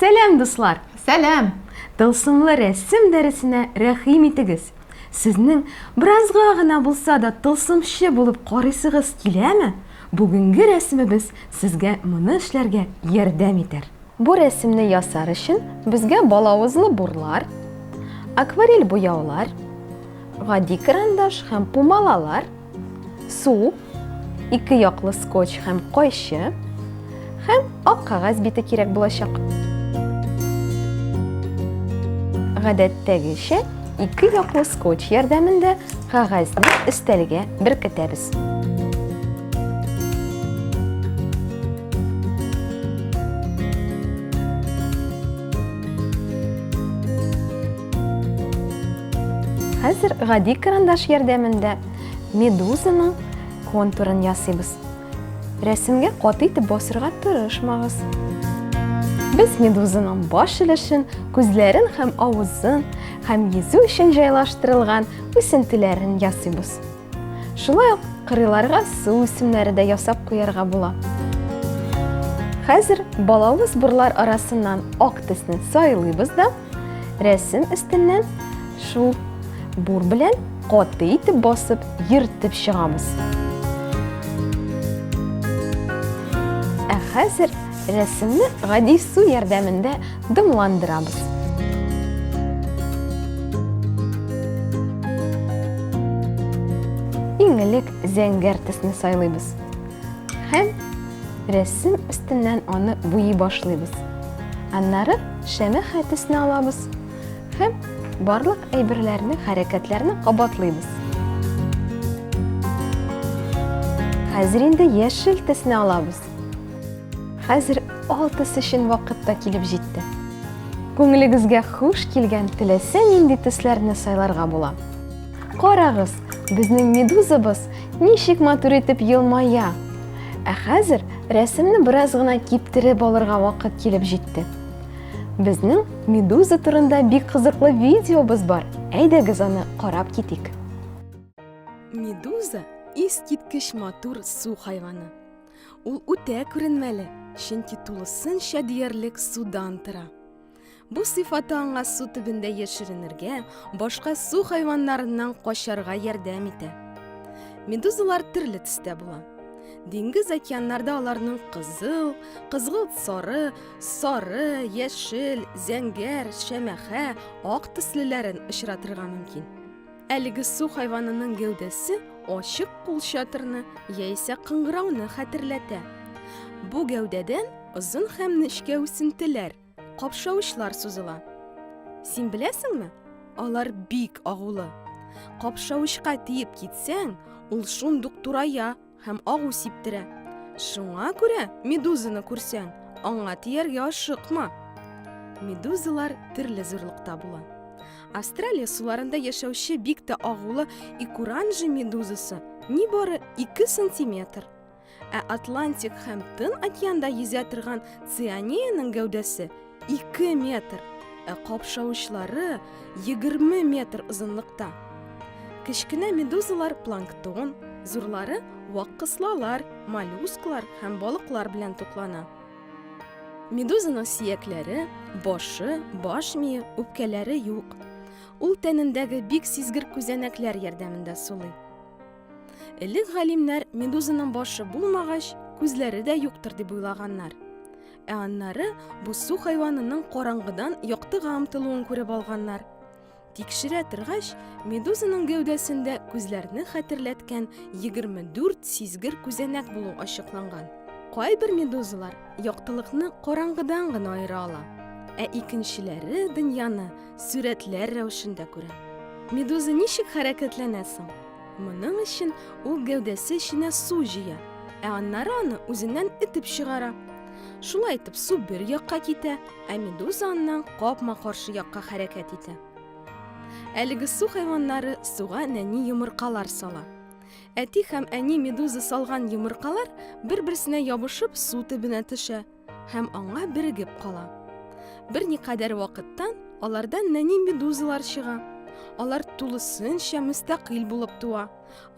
Сәләм, дуслар! Сәләм! Тылсымлы рәсем дәресенә рәхим итегез. Сезнең беразга гына булса да тылсымчы булып карыйсыгыз киләме? Бүгенге рәсемебез сезгә моны эшләргә ярдәм итәр. Бу рәсемне ясар өчен безгә балавызлы бурлар, акварель буяулар, гади карандаш һәм пумалалар, су, ике яклы скотч һәм кайчы һәм ак кагаз бите кирәк булачак. Гадәттәгечә, ике яклы скотч ярдәмендә кагазны өстәлгә беркетәбез. Хәзер гади карандаш ярдәмендә медузаның контурын ясыйбыз. Рәсемгә кат итеп басырга тырышмагыз. Без медузаның баш өлешен, күзләрен һәм авызын һәм йөзү өчен җайлаштырылган үсентеләрен ясыйбыз. Шулай ук кырыйларга су үсемнәре дә ясап куярга була. Хәзер балалы сборлар арасыннан ак тесне сайлыйбыз да, рәсем өстеннән шул бур белән каты итеп басып, йөртеп чыгамыз. Ә хәзер рәсемне гади су ярдәмендә Дымландырабыз. Иң элек зәңгәр төсне сайлыйбыз. Һәм рәсем өстеннән аны буйый башлыйбыз. Аннары шәмә хәтесне алабыз һәм барлык әйберләрне, хәрәкәтләрне кабатлыйбыз. Хәзер инде яшел төсне алабыз. Хәзер алтысы өчен вакыт та килеп җитте. Күңелегезгә хуш килгән теләсә нинди төсләрне сайларга була. Карагыз, безнең медузабыз ничек матур итеп елмая. Ә хәзер рәсемне бераз гына киптереп алырга вакыт килеп җитте. Безнең медуза турында бик кызыклы видеобыз бар. Әйдәгез аны карап китик. Медуза искиткеч матур су хайваны. Ул үтә күренмәле, чөнки тулысынча диярлек судан тора. Бу сыйфаты аңа су төбендә яшеренергә, башка су хайваннарыннан качарга ярдәм итә. Медузалар төрле төстә була. Диңгез океаннарда аларның кызыл, кызгылт сары, сары, яшел, зәңгәр, шәмәхә, ак төслеләрен очратырга мөмкин. Әлеге су хайванының гәүдәсе ачык кулчатырны яисә кыңгырауны хәтерләтә. Бу гәүдәдән озын һәм нечкә үсентеләр, капшавычлар сузыла. Син беләсеңме? Алар бик агулы. Капшавычка тиеп китсәң, ул шундук турая һәм агу сиптерә. Шуңа күрә медузаны күрсәң, аңа тияргә ашыкма. Медузалар төрле зурлыкта була. Австралия суларында яшәүче бик тә агулы икуранжи медузасы ни бары 2 сантиметр. Ә Атлантик һәм Тын океанда йөзә торган цианеяның гәүдәсе 2 метр, ә капшавычлары 20 метр озынлыкта. Кечкенә медузалар планктон, зурлары вак кыслалар, моллюсклар һәм балыклар белән туклана. Медузаның сиякләре, башы, баш мие, үпкәләре юк. Ул тәнендәге бик сизгер күзәнәкләр ярдәмендә сулый. Элек галимнәр медузаның башы булмагач, күзләре дә юктыр дип уйлаганнар. Ә аннары бу су хайванының караңгыдан яктыга омтылуын күреп алганнар. Тикшерә торгач, медузаның гәүдәсендә күзләрне хәтерләткән 24 сизгер күзәнәк булу ачыкланган. Кайбер медузалар яктылыкны караңгыдан гына аера ала, ә икенчеләре дөньяны сурәтләр рәвешендә күрә. Медуза ничек хәрәкәтләнә соң? Моның өчен ул гәүдәсе эченә су җыя, ә аннары аны үзеннән этеп чыгара. Шулай итеп су бер якка китә, ә медуза аннан капма каршы якка хәрәкәт итә. Әлеге су хайваннары суга нәни йомыркалар сала. Әти һәм әни медуза салган йомыркалар бер-берсенә ябышып су төбенә төшә. һәм аңа бирегеп кала. Берникадәр вакыттан аларда нәни медузалар чыга. Алар тулысынча мөстәкыйль булып туа.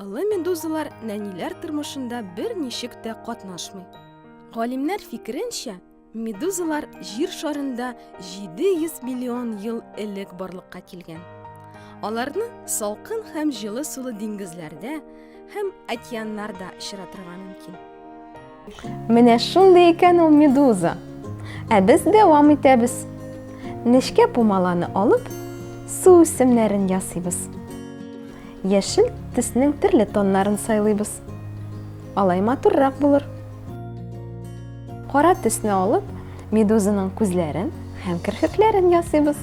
Олы медузалар нәниләр тормышында бер ничек тә катнашмый. Галимнәр фикеренчә, медузалар җир шарында 700 миллион ел элек барлыкка килгән. Аларны салкын һәм җылы сулы диңгезләрдә һәм океаннарда очратырга мөмкин. Менә шундый икән ул медуза. Ә без дәвам итәбез. Нечкә пумаланы алып, су үсемнәрен ясыйбыз. Яшел төснең төрле тоннарын сайлыйбыз. Алай матуррак булыр. Кара төсне алып, медузаның күзләрен һәм керфекләрен ясыйбыз.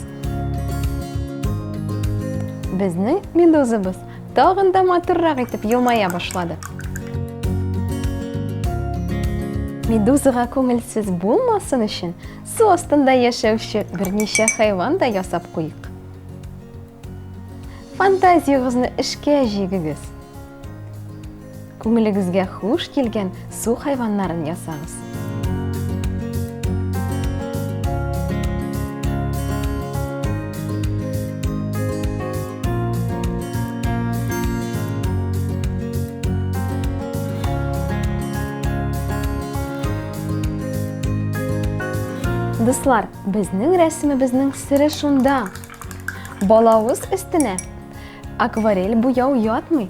Безнең медузабыз Тагын да матуррак итеп елмая башлады. Медузага күңелсез булмасын өчен, су астында яшәүче берничә хайван да ясап куйыйк. Фантазиягызны эшкә җигегез. Күңелегезгә хуш килгән су хайваннарын ясагыз. Дуслар, безнең рәсемебезнең сире шунда. Балавыз өстенә акварель буяу ятмый.